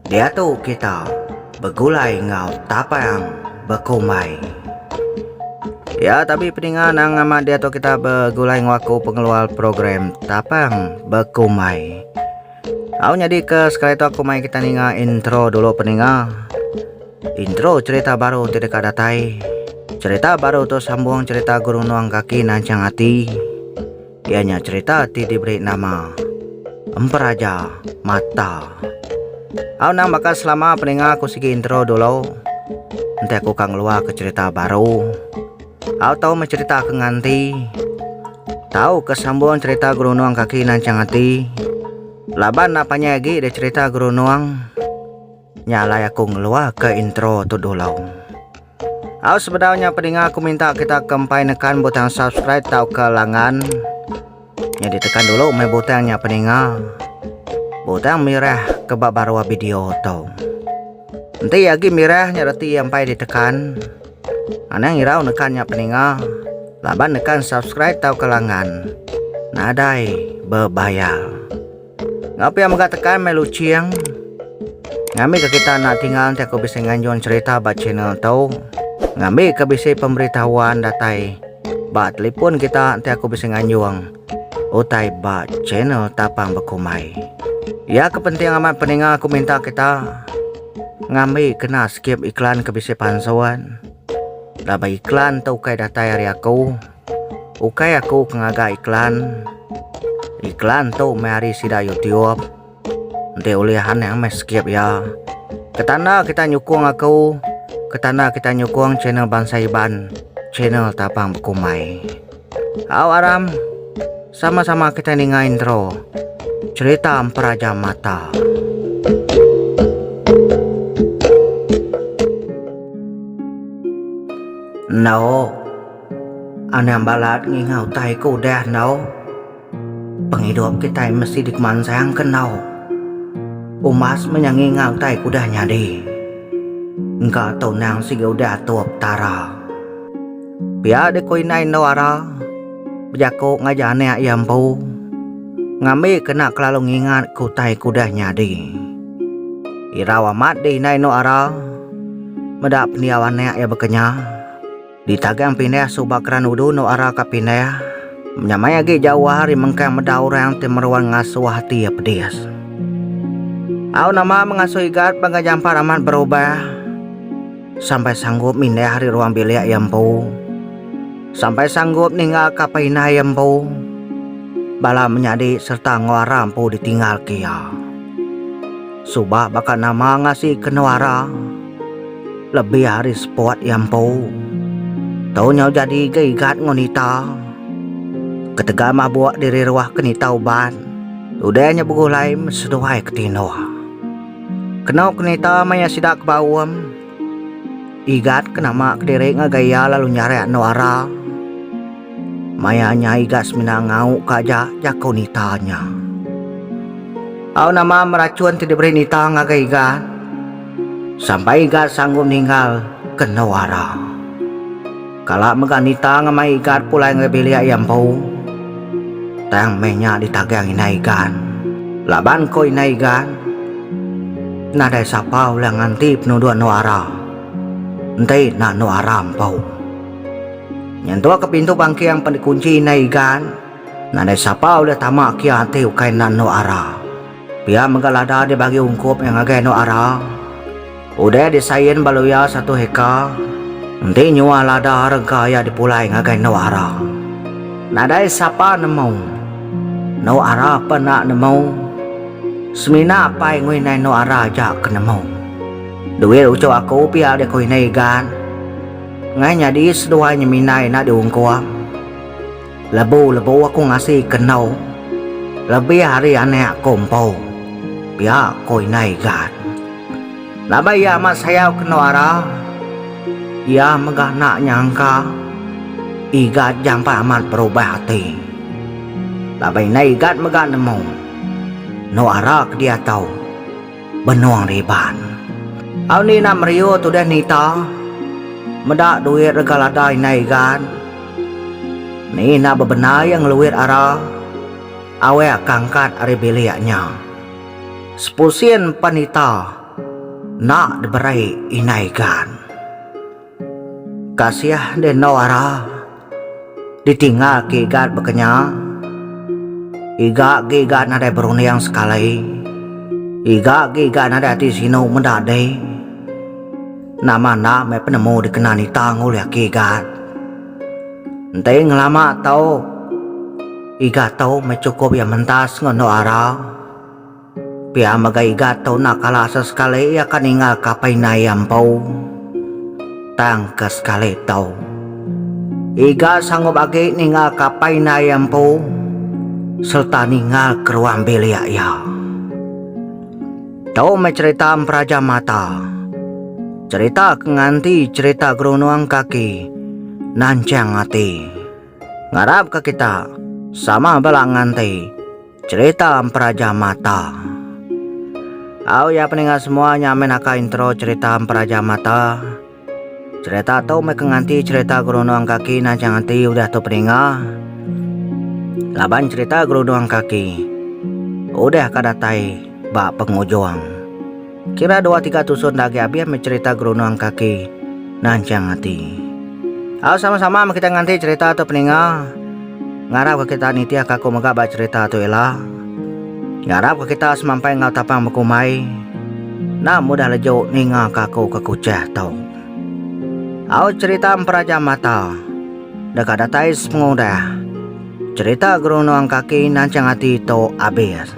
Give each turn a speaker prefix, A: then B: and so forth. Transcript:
A: Diatu kita begulai enggau tapang bekumbai. Ya tapi peninga nang amat diatu kita begulai enggau aku pengeluar program tapang bekumbai. Au nyadi ke sekali tu aku mai kita ninga intro dulu peninga. Intro cerita baru ti deka datai. Cerita baru tu sambung cerita guru nuang kaki nancang ati. Iya nya cherita ti diberi nama Emperaja Mata. Au nang bakal selama peninga aku sigi intro dulu. Enti aku ka ngelua ke cerita baru. Au tau meh cerita ke nganti. Tau ke sambung cerita gerunung kaki nancang ati. Laban na panjai agi dia cerita gerunung. Nya alai aku ngeluarka intro tu dulu. Au sebedau nya pedinga aku minta kita ke empai nekan butang subscribe tauka langan. Nya ditekan dulu mai butang nya pedinga. Butang mirah ke ba baruh video tu. Enti agi mirah nya reti empai ditekan. Anang irau nekan nya pedinga. Laban nekan subscribe tauka langan. Nadai bebayar. Ngapi a mega tekan meh luching. Ngambi ke kita anak tingal enti aku bisi nganjung cerita ba channel tu. Ngambi ke bisi pemberitahuan datai ba telefon kita enti aku bisi nganjung utai ba channel tapang bekumbai. Ya ke penting amat peninga aku minta kita ngambi kena skip iklan ke bisi pansun. Laban iklan tu ukai datai ari aku. Ukai aku ke ngaga iklan. Iklan tu meh ari sida YouTube. Enti ulih anang meh skip iya. Ketanda kita nyukung aku, ketanda kita nyukung channel Bansa Iban, channel Tapang Bekumbai. Au aram, sama-sama kita ninga intro. Cerita Emperaja Mata. Enda. Anang balat nginga utai ke udah enggau pengidup kitai mesti dikemansangka enggau umas menya nginga utai ke udah nyadi. Engka tau nang sigi udah atur Petara. Pia deh ku indai enggau ara bejaku ngajar anak iya empu ngambika enda kelalu ngingatka utai ke udah nyadi. Irau amat deh indai enggau ara meda pendiau anak iya baka nya. Ditagang pindah suba keran udu endo ara ka pindah. Nya mai agi jauh ari mengkang meda orang ti meruan ngasuh ati iya pedis. Au nama mengasuh Igat bangka jampat amat berubah. Sampai sanggup mindah ari ruang bilik iya empu. Sampai sanggup ninggal ka perindah iya empu. Bala menyadi serta enggau ara empu ditinggal ke iya. Suba baka nama ngasi ke endo ara. Lebih ari spot iya empu, tu nyau jadi ga igat enggau nita. Ketegal mabuk diri ruah ke nita uban, udah nya begulai seduai ke tinduh. Kenu ke nita maya sida ke baum, igat ke nama ke diri ngagai iya lalu nyarik andu ara. Maya nya igat semina ngau ka aja, jaku nita nya. Au nama merachun ti diberi nita ngagai igat. Sampai Igat sanggup ninggal kenu ara. Kala mega nita ngemai Igat pulai ngagai bilik iya empu, tang meh nya ditagang indai Igat. Laban ko indai Igat, Nadai sapa ulih nganti penuduk enu ara, enti enda enu ara empu. Nyentuk ke pintu bangkeng pan dikunchi indai Igat, nadai sapa ulih tama kia enti ukai enda enu ara. Pia mega lada dibagi ungkup iya ngagai anu ara. Udah disain bala iya satu heka, enti nyual lada rega iya dipulai ngagai anu ara. Nadai sapa nemu. Anu ara pun enda nemu. Semina apai nguinai anu ara aja ke nemu. Duit uchu aku pia dikuinai Igan. Tengah nyadi seduai nyeminai enda diungkup. Lebu-lebu aku ngasi ke endu. Lebih ari anak ku empu. Pia ku indai Gad. Laban iya amat sayau ke endu Ara, iya mega enda nyangka Igat jampat amat berubah ati. Laban indai Igat mega nemu endu Ara ke diatu. Benung Riban. Au ni ina meriu tudah nita. Meda duit rega lada indai Igan. Ni ina bebendar iya ngeluit ara. Awek ka angkat ari bilik nya. Sepusin pan ita enda diberei indai Igan. Kasih deh enggau ara. Ditinggal ke igat baka nya. Iga ge iga nadai berunding sekali. Iga ge iga nadai ati sinu meda deh. Nama enda meh penemu dikena nitang ulih aki igat. Enti ngelama tau iga tu meh chukup iya mentas enggau endu ara. Pia mega iga tu enda kala asa sekali iya ka ninggal ka apai indai iya empu. Tang ke sekali tu. Iga sanggup agi ninggal ka apai indai iya empu sereta ninggal ke ruang bilik iya. Tu meh cerita Emperaja Mata. Cerita ke nganti cerita gerunung kaki nanchang ati. Ngarap ka kita sama bela nganti. Cerita Emperaja Mata Au ya peninga semua nya meh naka intro cerita Emperaja Mata. Cerita tu meh ke nganti cerita gerunung kaki nancang ati udah tu peninga. Laban cerita gerunung kaki udah ka datai ba pengujung. Kira dua tiga tusun dah agi abih meh cerita gerunung kaki nanchang ati. Au sama sama meh kita nganti cerita tu peninga. Ngarap ka kita nitih ka aku mega ba cerita tu ila. Ngarap ka kita semampai enggau tapang bekumbai. Enda mudah leju ninga ka aku ke kuchah tu. Au cerita emperaja mata. Deka datai sepengudah. Cerita gerunung kaki nanchang ati tu abis.